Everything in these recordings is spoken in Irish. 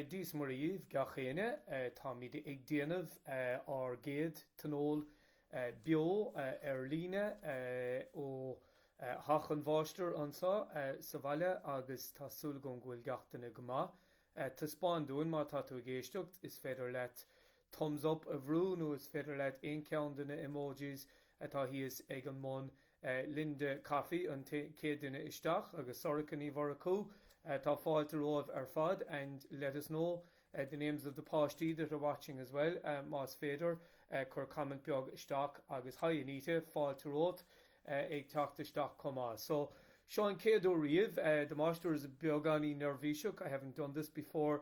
Dia's Muire dhaoibh gach éinne. Táimid ag déanamh ár gcéad tionól beo ar líne ó theach an Mháistir anseo sa bhaile agus tá súil agam go bhfuil gach duine go maith. Taispeáin dúinn má tá tú ag éisteacht, is féidir leat Thumbs up a bhrú nó is féidir leat aon cheann de na emojis atá thíos ag an mbun. Linda Coffey an chéad duine isteach agus Sorcha Ní Mhurchú, tá fáilte romhaibh ar fad and let us know the names of the páistí that are watching as well más féidir. Cuir comment beag isteach agus hi Anita, fáilte romhat ag teacht isteach chomh maith. So, seo an chéad uair riamh, the máistir is a beagáinín neirbhíseach, I haven't done this before,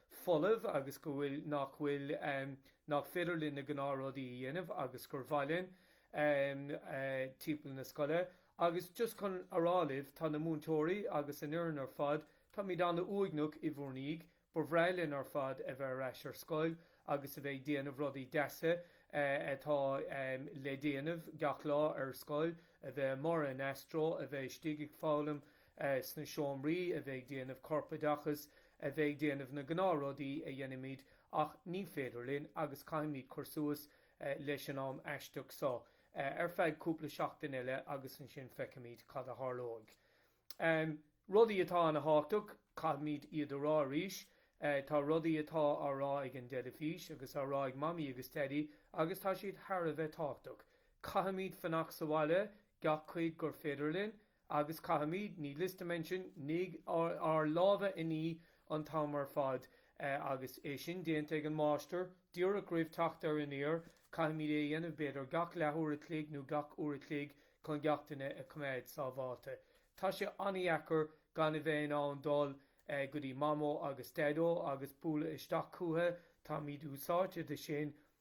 folamh agus go bhfuil, nach bhfuil, nach féidir linn na gnáthrudaí a dhéanamh agus gur mhaith linn timpeall na scoile agus just chun a rá libh, tá na múinteoirí agus an fhoireann ar fad, táimid an-uaigneach i bhur ndiaidh, ba bhreá linn ar fad a bheith ar ais ar scoil agus a bheith ag déanamh rudaí deasa atá le déanamh gach lá ar scoil, a bheith amuigh ar an Astro, a bheith istigh ag foghlaim sna seomraí, a bheith ag déanamh corpoideachas. a bheith ag déanamh na gnáthrudaí a dhéanaimid ach ní féidir linn agus caithfimid cur suas leis an am aisteach so ar feadh cúpla seachtain eile agus ansin feicfimid cad a tharlóidh. Rudaí atá an-thábhachtach, caithfimid iad a rá arís. Tá rudaí atá á rá ag an dteilifís agus á rá ag Mamaí agus Daidí agus tá siad thar a bheith tábhachtach. Caithfimid fanacht sa bhaile, gach cuid gur féidir linn. Agus caithfimid, needless to mention, ní, ár lámha a ní an t-am ar fad. Agus é sin déanta ag an máistir, díreach roimh teacht ar an aer, caithfimid é a dhéanamh b'fhéidir gach leathuair a chloig nó gach uair a chloig chun gach duine a choimeád sábháilte. Tá sé an-dheacair gan a bheith in ann dul go dtí Mamó agus Daideo agus bualadh isteach chucu, táimid úsáidte de sin,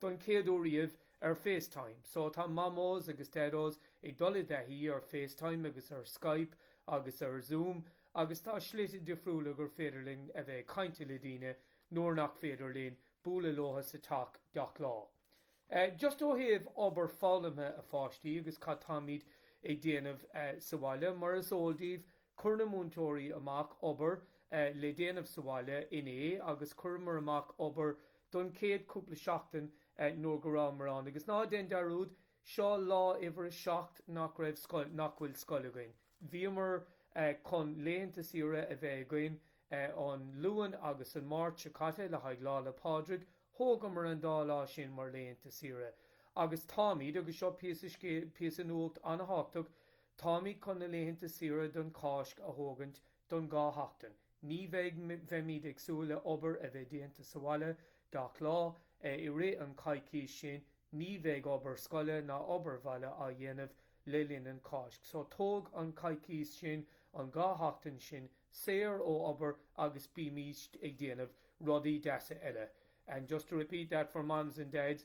don chéad uair riamh ar FaceTime. So, tá Mamós agus Daidós ag dul i dtaithí ar FaceTime agus ar Skype agus ar Zoom agus tá slite difriúla gur féidir linn a bheith ag caint le daoine nuair nach féidir linn bualadh leotha sa teach gach lá. Just ó thaobh obair foghlamtha a pháistí agus cad táimid ag déanamh sa bhaile, mar is eol daoibh, Chuir na múinteoirí amach obair le déanamh sa bhaile inné agus chuireamar amach obair don chéad chúpla seachtain nuair nach rabhamar ann. Agus ná déan dearúd, seo lá uimhir a seacht nach raibh, nach bhfuil scoil againn. Bhíomar chun laethanta saoire a bheith againn an Luan agus an Máirt seo caite le haghaidh Lá 'le Pádraig, thógamar an dá lá sin mar laethanta saoire. Agus táimid, agus seo píosa nuacht an-thábhachtach, Táimid chun na laethanta saoire don Cáisc a thógaint don dhá sheachtain. Ní bheidh, bheimid ag súil le obair a bheith déanta sa bhaile gach lá. I rith an coicís sin ní bheidh obair scoile ná obair bhaile á dhéanamh le linn an Cáisc. So tóg an coicís sin, an dhá sheachtain sin, saor ó obair agus bímíst ag déanamh rudaí deasa eile. And just to repeat that for moms and dads,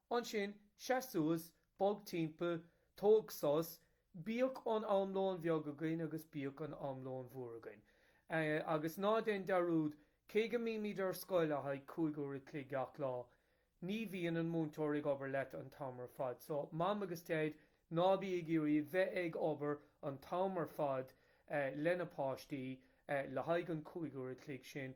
Ansin, seas suas, bog timpeall, tóg sos, bíodh an am lón bheag againn agus bíodh an am lón mhór againn. Agus ná déan dearúd, cé go mbímid ar scoil le haghaidh cúig uair a chloig gach lá, ní bhíonn an múinteoir ag obair leat an t-am ar fad. So, Mam agus Daid, ná bí ag iarraidh bheith ag obair an t-am ar fad leis na páistí le haghaidh an cúig uair a chloig sin.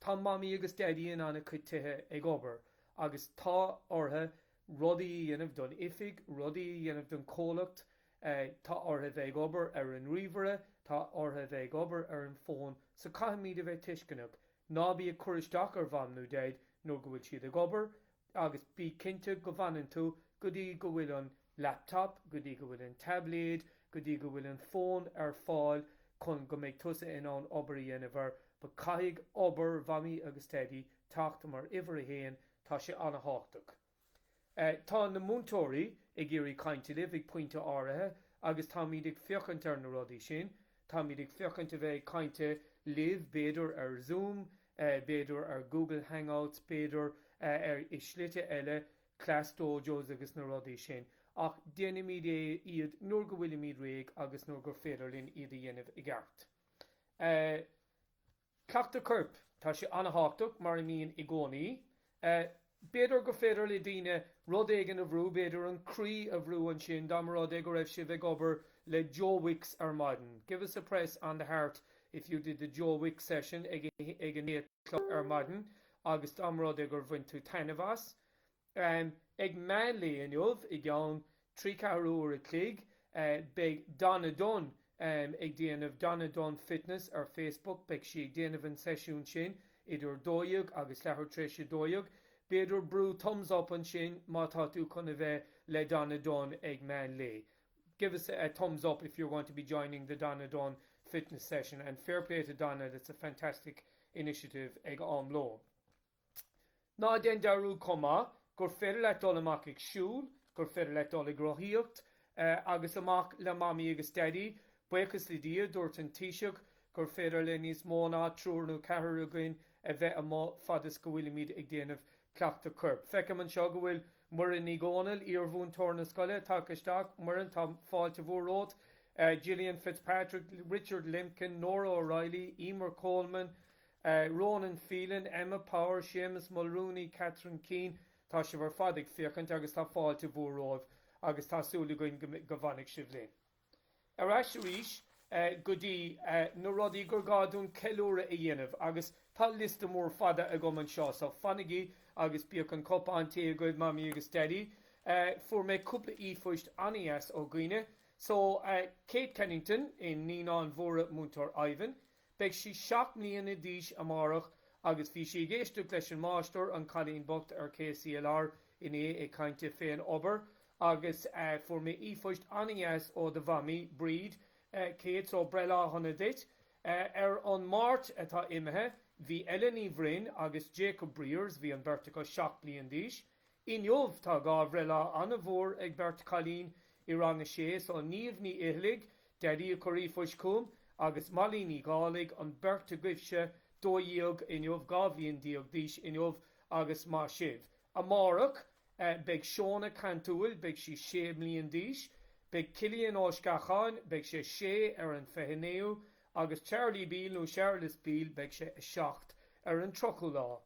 Tá Mamaí agus Daidí in an-chuid tithe ag obair agus tá orthu rudaí a dhéanamh don oifig, rudaí a dhéanamh don comhlacht, tá orthu a bheith ag obair ar an ríomhaire, tá orthu a bheith ag obair ar an fón, so caithfimid a bheith tuisceanach. Ná bí ag cur isteach ar Mham nó Dhaid nuair go bhfuil siad ag obair, agus bí cinnte go bhfanann tú go dtí go bhfuil an laptop, go dtí go bhfuil an taibléad, go dtí go bhfuil an fón ar fáil chun go mbeidh tusa in ann obair a dhéanamh air. But caithfidh obair Mhamaí agus Daidí teacht mar uimhir a haon, tá sé an-thábhachtach. Tá na múinteoirí ag iarraidh cainte libh ag pointe áirithe agus táimid ag féachaint ar na rudaí sin. Táimid ag féachaint ar bheith ag cainte libh b'fhéidir ar Zoom, b'fhéidir ar Google Hangouts, b'fhéidir ar slite eile, Class Dojos agus na rudaí sin, ach déanfaimid é iad nuair go bhfuilimid réidh agus nuair gur féidir linn iad a dhéanamh i gceart. Cleachtadh corp, tá sé an-thábhachtach, mar a mbíonn i gcónaí. B'fhéidir go féidir le daoine rud éigin a bhrú, b'fhéidir an croí a bhrú ansin, dá mba rud é go raibh sibh ag obair le Joe Wicks ar maidin. Give us a press on the heart if you did the Joe Wicks session ag a naoi a chlog ar maidin agus dá mba rud é gur bhain tú taitneamh as. Ag meánlae inniu, i gceann trí ceathrú uair a chloig beidh Donna Dunne ag déanamh Donna Dunne Fitness ar Facebook. Beidh sí ag déanamh an seisiún sin idir a dó dhéag agus leathuair tar éis a dó dhéag. B'fhéidir brú thumbs up ansin má tá tú chun a bheith le Donna Dunne ag meán lae. Give us a thumbs up if you're going to be joining the Donna Dunne fitness session and fair play to Donna that's a fantastic initiative ag am lóin. Ná déan dearúd chomh maith gur féidir leat dul amach ag siúl, gur féidir leat dul ag rothaíocht agus amach le Mamaí agus Daidí. Buíochas le Dia, dúirt an Taoiseach gur féidir le níos mó ná triúr nó ceathrar againn a bheith amuigh fad is go bhfuilimid ag déanamh cleachtadh coirp. Feicim anseo go bhfuil Muireann Ní Dhomhnaill, iarmhúinteoir na scoile, tagtha isteach. Muireann, tá fáilte mhór romhat. Gillian Fitzpatrick, Richard Limkin, Nora O'Reilly, Eimear Coleman, Ronan Phelan, Emma Power, Séamus Mulrooney, Catherine Keane, tá sibh ar fad ag féachaint agus tá fáilte mhór romhaibh agus tá súil againn go bhfanfaidh sibh linn. Ar ais arís go dtí na rudaí gur gá dúinn ceiliúradh a dhéanamh agus tá liosta mór fada agam anseo so fanaigí agus bíodh an cupán tae agaibh Mamaí agus Daidí. Fuair mé cúpla íphoist an-dheas ó dhaoine so Kate Kennington, naíonáin mhóra Múinteoir Ivan, Beidh sí seacht mbliana d'aois amárach agus bhí sí ag éisteacht leis an máistir, an cailín bocht, ar KCLR inné ag caint fén obair agus fuair mé íphoist an-dheas ó do mhamaí, Bríd, Kate, só breithlá shona duit. Ar an Máirt atá imithe bhí Ella Ní Bhroin agus Jacob Briers, bhí an beirt acu seacht bliain d'aois. Inniu tá dhá bhreithlá an-mhór ag beirt chailín i Rang a Sé so Niamh Ní Fhithcheallaigh, Daidí a chuir e-phoist chugam, agus Molly Ní Dhálaigh, an beirt agaibhse, dó dhéag inniu, dhá bhliain déag d'aois inniu agus maith sibh. Amárach beidh Seóna Cantúil, beidh sí sé mbliain d'aois. Beidh Cillian Ó Sceacháin, beidh sé sé ar an 29ú Agus Charlie Beale, nó Charles Beale, beidh sé a seacht ar an tríochú lá.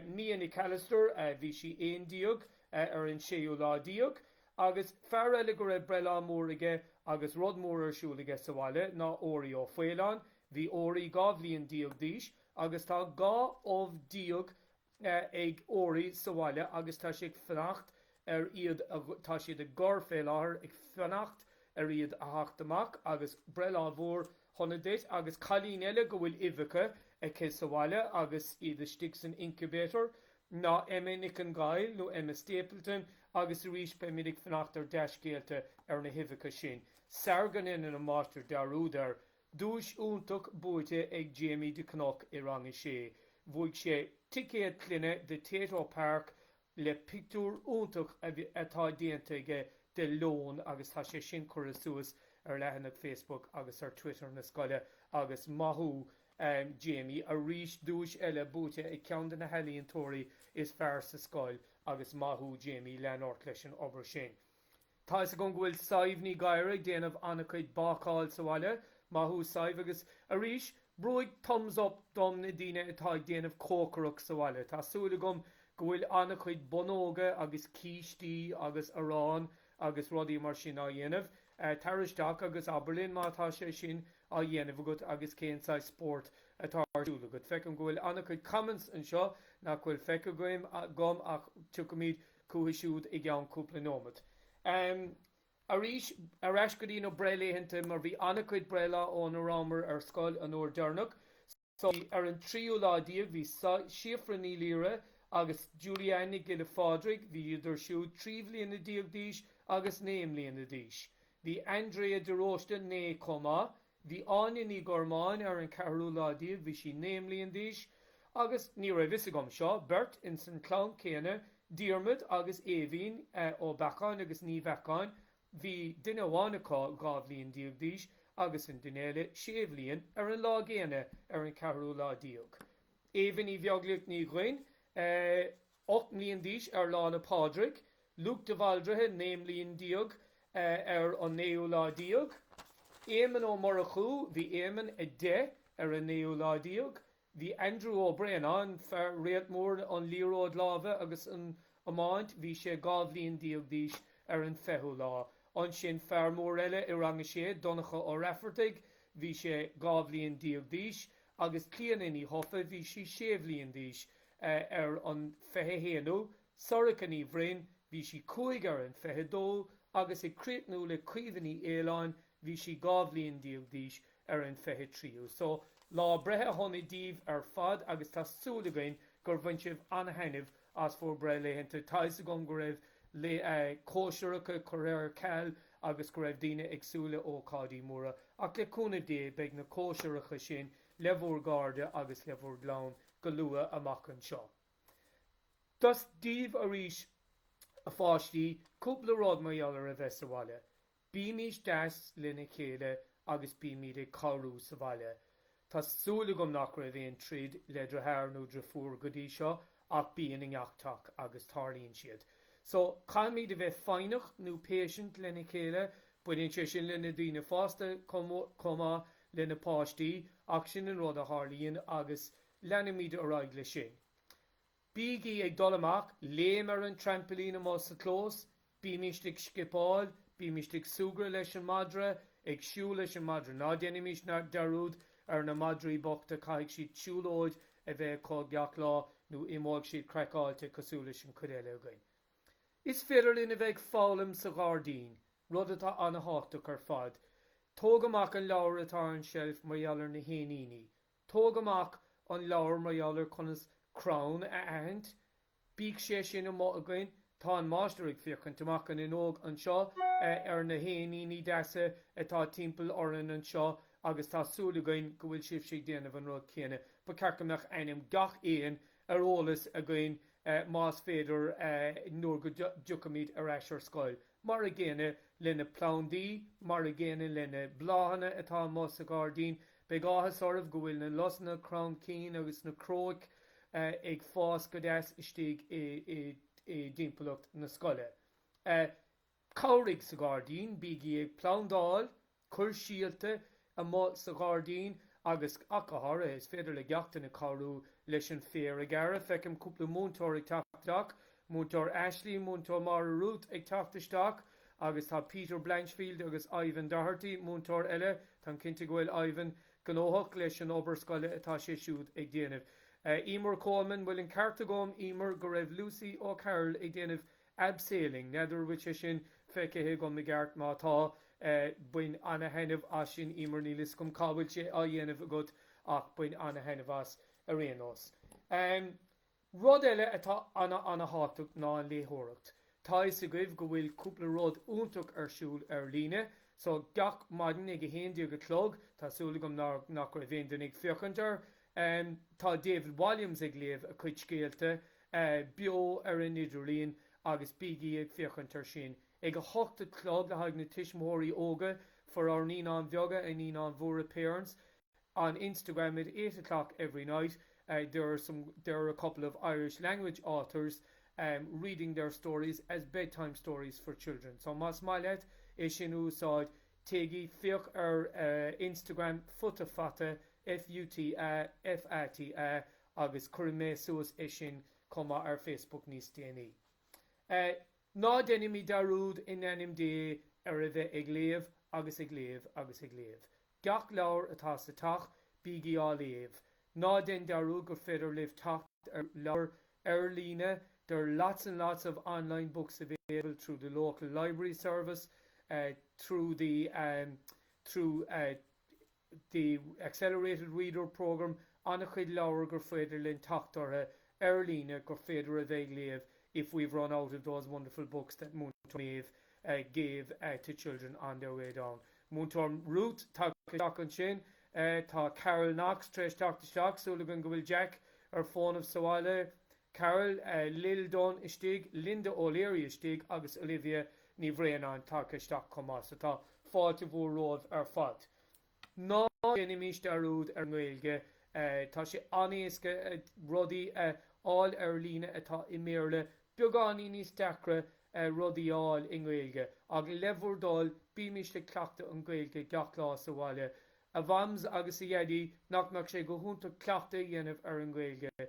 Mia Nic Alastair, bhí sí aon déag ar an séú lá déag. Agus fear eile go raibh breithlá mór aige agus rud mór ar siúl aige sa bhaile ná Óirí Ó Faoláin. Bhí Óirí dhá bhliain déag d'aois agus tá dhá ubh déag ag Óirí sa bhaile agus tá sé ag fanacht ar iad a, tá siad ag gor fé láthair ag fanacht ar iad a theacht amach agus breithlá mhór shona duit agus cailín eile go bhfuil uibheacha aici sa bhaile agus iad istigh san incubator ná Emma Nic an Ghaill nó Emma Stapleton agus arís beimid ag fanacht ar dea-scéalta ar na huibheacha sin. Sara ndéanann an máistir dearúd air. Duais iontach buaite ag Jamie de Cnoc i rang a sé. Bhuaigh sé ticéad clainne do Tayto Park le pictiúr iontach atá déanta aige de leon agus tá sé sin curtha suas ar leathanach Facebook agus ar Twitter na scoile agus maith thú Jamie arís. Duais eile buaite ag ceann de na healaíontóirí is fearr sa scoil agus maith thú Jamie, lean ort leis an obair sin. Tá fhios agam go bhfuil Sadhbh Ní Ghadhra ag déanamh an-chuid bácáil sa bhaile, maith thú Sadhbh, agus arís, brúigh thumbs up dom na daoine atá ag déanamh cócaireacht sa bhaile. Tá súil agam go bhfuil an-chuid bonnóga agus cístí agus arán agus rudaí mar sin á dhéanamh. Tar isteach agus abair linn má tá sé sin á dhéanamh agat agus cén saghas spórt atá ar siúl agat. Feicim go bhfuil an-chuid comments anseo nach bhfuil feicthe agam ach tiocfaimid chucu siúd i gceann cúpla nóimeat. Arís, ar ais go dtí na breithlaethanta, mar bhí an-chuid breithlá ó ná rabhamar ar scoil an uair deireanach. So, ar an tríú lá déag, bhí Síofra Ní Laoire agus Julie Ann Nic Giolla Phádraig, bhí idir siúd trí bhliana déag d'aois agus naoi mbliana d'aois. Bhí Andrea de Róiste naoi chomh maith. Bhí Áine Ní Ghormáin ar an ceathrú lá déag, bhí sí naoi mbliain d'aois agus ní raibh fhios agam, seo beirt ins an chlann céanna, Diarmaid agus Éimhín Ó Beacháin agus Ní Bheacháin, bhí duine amháin acu dhá bhliain déag d'aois agus an duine eile sé bhliain ar an lá gcéanna ar an ceathrú lá déag. Éimhín Ní Bheaglaoich Ní Dhuinn. 8 mbliain d'aois ar Lá 'le Pádraig, Luke de Bhaldraithe 9 mbliain d'aois ar an naoú lá déag, Éamonn Ó Murchú, bhí Éamonn 10 ar an naoú lá déag, bhí Andrew Ó Braonáin, fear réalt mór an liathróid láimhe agus an iomáint, bhí sé dhá bhliain déag d'aois ar an fichiú lá. Ansin fear mór eile i rang a sé, Donncha Ó Raifeartaigh, bhí sé dhá bhliain déag d'aois agus Clíodhna Ní Dhufaigh, bhí sí sé bhliain d'aois. Ar an 21ú, Sorcha Ní Bhroin, bhí sí cúig ar an 22 agus ag críochnú le Caoimhe Ní Fhaoláin, bhí sí dhá bhliain déag d'aois ar an 23ú. So, lá breithe shona daoibh ar fad agus tá súil againn gur bhain sibh an-thaitneamh as bhur mbreithlaethanta. Tá 'fhios agam go raibh cóisireacha curtha ar ceal agus go raibh daoine ag súil le ócáidí móra ach le cúnamh Dé beidh na cóisireacha sin le bhur gcairde agus le bhur gclann. go luath amach anseo. Dos daoibh arís a pháistí, cúpla rud mar gheall ar a bheith sa bhaile. Bímís deas lena chéile agus bímid ag cabhrú sa bhaile. Tá súil agam nach raibh aon troid le deartháir nó deirfiúr go dtí seo ach bíonn i ngach teach agus tarlaíonn siad. So, caithfimid a bheith foighneach nó patient lena chéile. Baineann sé sin le na daoine fásta chomh maith. le na páistí, ach sin an rud a tharlaíonn agus leanfaimid ar aghaidh leis sin. Bígí ag dul amach, léim ar an traimplín amuigh sa chlós, bímíst ag scipeáil, bímíst ag súgradh leis an madra, ag siúl leis an madra, ná déanaimís dearúd ar na madraí bochta, caithfidh siad siúlóid a bheith acu gach lá nó imeoidh siad craiceáilte cosúil leis an chuid eile againn. Is féidir linn a bheith ag foghlaim sa ghairdín, Rud atá ana-thábhachtach ar fad. Tóg amach an leabhar atá ar an tseilf mar gheall ar na héiníní. Tóg amach an leabhar mar gheall ar conas crann a aithint. Bíodh sé sin amuigh againn. Tá an máistir ag féachaint amach an fhuinneog anseo ar na héiníní deasa atá timpeall orainn anseo agus tá súil againn go bhfuil sibhse ag déanamh an rud céanna. Ba cheart go mbeadh ainm gach éin ar eolas againn más féidir nuair go dtiocfaimid ar ais ar scoil. Mar a gcéanna leis na plandaí, mar a gcéanna leis na bláthanna atá amuigh sa ghairdín, beidh áthas oraibh go bhfuil na lusanna cromchinn agus na cróic ag fás go deas istigh i dtimpeallacht na scoile. Cabhraigh sa ghairdín, bígí ag plandáil! Cuir síolta amuigh sa ghairdín agus ach go háirithe, is féidir le gach éinne cabhrú leis an féar a ghearradh. Feicim cúpla múinteoir ag teacht isteach, Múinteoir Aisling, Múinteoir Máire Ruth ag teacht isteach agus tá Peter Blanchfield agus Ivan Doherty, múinteoir eile, táim cinnte go bhfuil Ivan gnóthach leis an obair scoile atá sé siúd ag déanamh. Emer Coleman, bhfuil an ceart agam, Emer, go raibh Lucy O'Carroll ag déanamh abseiling, n'fheadar an bhfuil sé sin feicthe agam i gceart, má tá, bain ana-thaitneamh as sin, Emer, níl 'fhios agam cá bhfuil sé á dhéanamh agat ach bain ana-thaitneamh as ar aon nós. Rud eile atá ana-thábhachtach ná an léitheoireacht. Tá 'fhios agaibh go bhfuil cúpla rud iontach ar siúl ar líne, so gach maidin ag a haon déag a chlog, tá súil agam nach raibh aon duine ag féachaint air, tá David Walliams ag léamh a chuid scéalta, beo ar an idirlíon agus bígí ag féachaint ar sin ag a hocht a chlog le haghaidh na tuismitheoirí óga for our Naíonáin Bheaga and Naíonáin Mhóra parents on Instagram at eight a clock every night there are a couple of Irish language authors reading their stories as bedtime stories for children so más maith leat é sin a úsáid téigí féach ar Instagram Futa Fata F-U-T-A F-A-T-A agus cuirfidh mé suas é sin chomh maith ar Facebook níos déanaí. Ná deinimid dearúd, in ainm Dé, ar a bheith ag léamh agus ag léamh agus ag léamh. Gach leabhar atá sa teach, bígí á léamh. Ná dein dearúd gur féidir libh teacht ar leabhair ar líne, there are lots and lots of online books available through the local library service, through the, through. the accelerated reader program an-chuid leabhar gur féidir linn teacht orthu ar líne gur féidir a bheith ag léamh if we've run out of those wonderful books that Múinteoir Maeve gave to children on their way down Múinteoir Ruth tagtha isteach ansin tá Carol Knox tar éis teacht isteach súil againn go bhfuil Jack ar fónamh sa bhaile Carol Liddon istigh, Linda O'Leary istigh agus Olivia Ní Bhraonáin tagtha isteach chomh maith, so tá fáilte mhór romhaibh ar fad. Ná déanaimís dearúd ar an nGaeilge, tá sé an-éasca rudaí a fháil ar líne atá i mBéarla, beagáinín níos deacra rudaí a fháil i nGaeilge, ach le bhur dtoil, bímís ag cleachtadh an Gaeilge gach lá sa bhaile. A Mhams agus a Dhaidí, nach mbeadh sé go hiontach cleachtadh a dhéanamh ar an nGaeilge?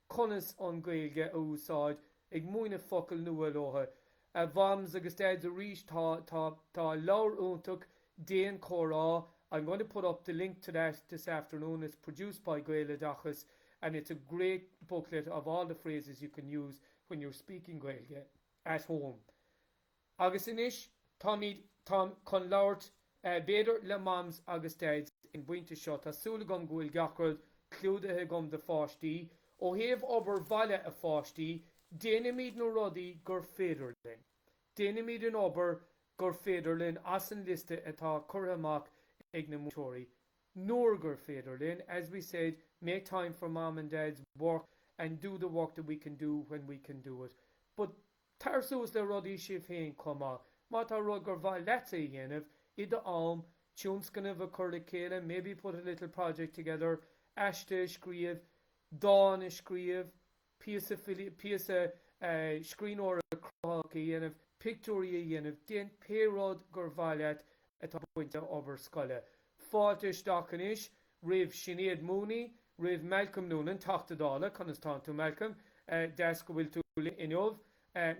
conas an Ghaeilge a úsáid, ag múineadh focail nua leo. A Mhams agus Dads, arís, tá, tá, tá leabhar iontach, Déan Comhrá, I'm going to put up the link to that this afternoon, it's produced by Gaeloideachas and it's a great booklet of all the phrases you can use when you're speaking Gaeilge at home. Agus anois táimid, táim chun labhairt b'fhéidir le Mams agus Dads ag an bpointe seo, tá súil agam go bhfuil gach rud clúdaithe agam do pháistí, ó thaobh obair bhaile a pháistí, déanaimid na rudaí gur féidir linn. Déanaimid an obair gur féidir linn as an liosta atá curtha amach ag na múinteoirí, nuair gur féidir linn, as we said, make time for Mam and Dad's work and do the work that we can do when we can do it, but. Tar suas le rudaí sibh féin chomh maith, má tá rud gur mhaith leatsa a dhéanamh i do am, tionscnamh a chur le chéile, maybe put a little project together, aiste a scríobh, dán a scríobh, píosa, píosa scríbhneoireacht chruthaitheach a dhéanamh, pictiúirí a dhéanamh, déan pé rud gur mhaith leat atá bainte le obair scoile. Fáilte isteach anois. roimh Sinéad Mooney, roimh Malcolm Noonan, Teachta Dála, conas tánn tú Malcolm, deas go bhfuil tú linn inniu,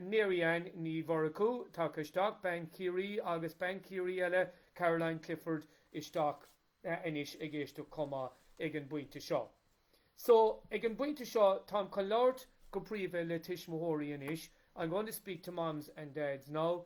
Mary Anne Ní Mhurchú tagtha isteach, bean Chiarraí agus bean Chiarraí eile, Caroline Clifford isteach anois ag éisteacht chomh maith ag an bpointe seo. So, ag an bpointe seo, táim chun labhairt go príomha le tuismitheoirí anois, I'm going to speak to mams and dads now,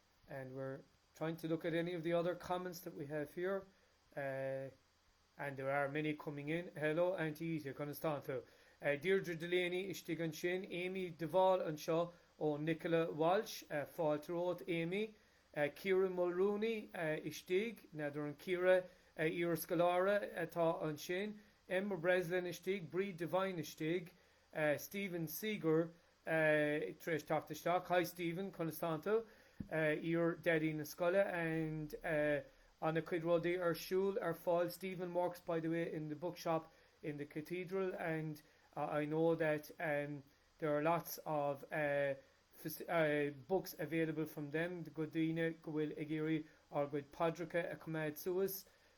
and we're trying to look at any of the other comments that we have here and there are many coming in hello Auntie Ita conas tá tú? Deirdre Delaney istigh ansin, Amy de Bhál anseo ó Nicola Walsh fáilte romhat Amy Ciara Mulrooney istigh, n'fheadar an Ciara iar-scoláire atá ansin? Emma Breslin istigh, Bríd Devine istigh, Stephen Seeger tar éis teacht isteach, Hi Stephen, conas tá tú? iar-Dhaidí na scoile and ana cuid rudaí ar siúl, ar fáil, Stephen works by the way in the bookshop in the cathedral and I know that there are lots of books available from them go daoine go bhfuil ag iarraidh ár gcuid paidreacha a choimeád suas.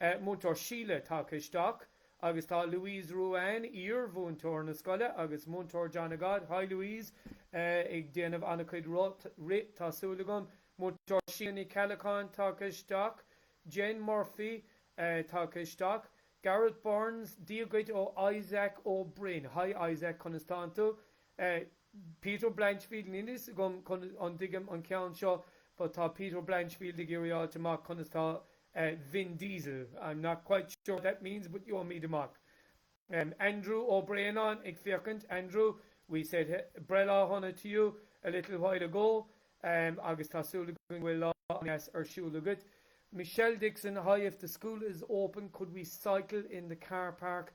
Múinteoir Síle tagtha isteach agus tá Louise Ruane, iar-mhúinteoir na scoile agus Múinteoir John againn, Hi Louise! ag déanamh an-chuid rith, tá súil agam. Múinteoir Síle Ní Cheallacháin tagtha isteach. Jen Murphy tagtha isteach. Gareth Burns, Dia dhuit ó Isaac Ó Broin, Hi Isaac, conas tánn tú? Eh, Peter Blanchfield, níl fhios agam an, an dtuigim an ceann seo but tá Peter Blanchfield ag iarraidh fháilt amach conas tá Vin Diesel, I'm not quite sure what that means but gheobhaimid amach. Em, Andrew Ó Braonáin ag féachaint, Andrew, we said breithlá shona to you a little while ago em agus tá súil againn go bhfuil lá an-deas ar siúl agat. Michelle Dixon, Hi, if the school is open could we cycle in the car park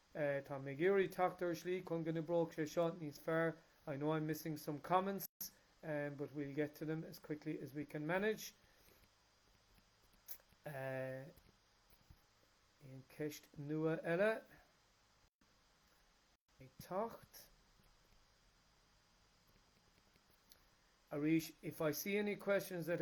Tá mé ag iarraidh teacht ar shlí chun go n-oibreoidh sé seo níos fearr. I know I'm missing some comments but we'll get to them as quickly as we can manage. Aon ceist nua eile ag teacht? Arís, if I see any questions that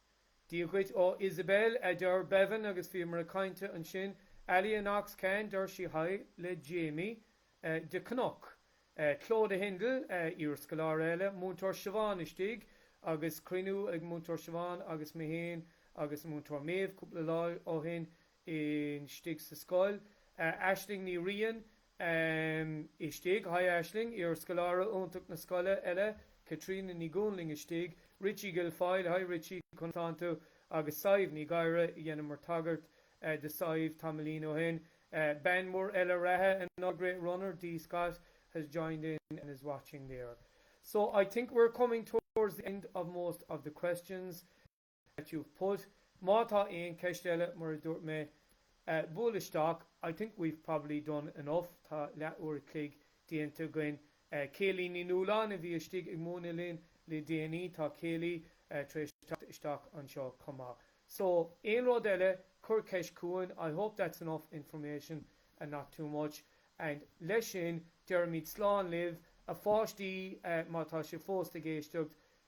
Dia dhuit ó Isabel, adeir Bevan agus bhíomar ag caint ansin Ali and Ox, can deir sí Hi le Jamie de Cnoc. Clodagh Hindle, iarscoláire eile, Múinteoir Siobhán istigh agus cruinniú ag Múinteoir Siobhán agus mé féin agus Múinteoir Maeve cúpla lá ó shin istigh sa scoil. Aisling Ní Riain, em, istigh, hi Aisling, iarscoláire iontach na scoile eile, Caitríona Ní Dhúnlaing istigh, Richie Guilfoyle, hi Richie, conas tánn tú? agus Sadhbh Ní Ghadhra, dheineamar tagairt do Shadhbh tamaillín ó shin, bean mhór eile reatha, another great runner, Dee Scott has joined in and is watching there. So I think we're coming towards the end of most of the questions. that you've put. Má tá aon cheist eile, mar a dúirt mé, buail isteach. I think we've probably done enough, tá leath uair a chloig déanta againn. Kayleigh Ní Nualláin a bhí istigh ag múineadh linn le déanaí, tá Kayleigh tar éis teacht isteach anseo chomh maith. So, aon rud eile, cuir ceist chugainn. I hope that's enough information, not too much. And leis sin, deirimid slán libh, a pháistí, má tá sé fós ag éisteacht,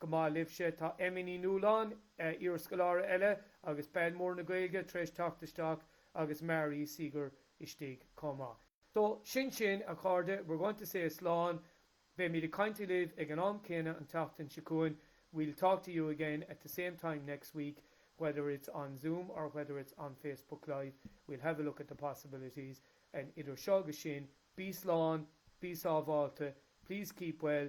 Go maith libhse, tá Emmy Ní Nualláin, iar-scoláire eile agus bean mhór na Gaeilge, tar éis teacht isteach agus Mary Seeger istigh chomh maith. So, sin sin, a chairde, we're going to say slán, beimid ag caint libh ag an am céanna an tseachtain seo chugainn, we'll talk to you again at the same time next week, whether it's on Zoom or whether it's on Facebook Live, we'll have a look at the possibilities, and idir seo agus sin, bí slán, bí sábháilte, please keep well,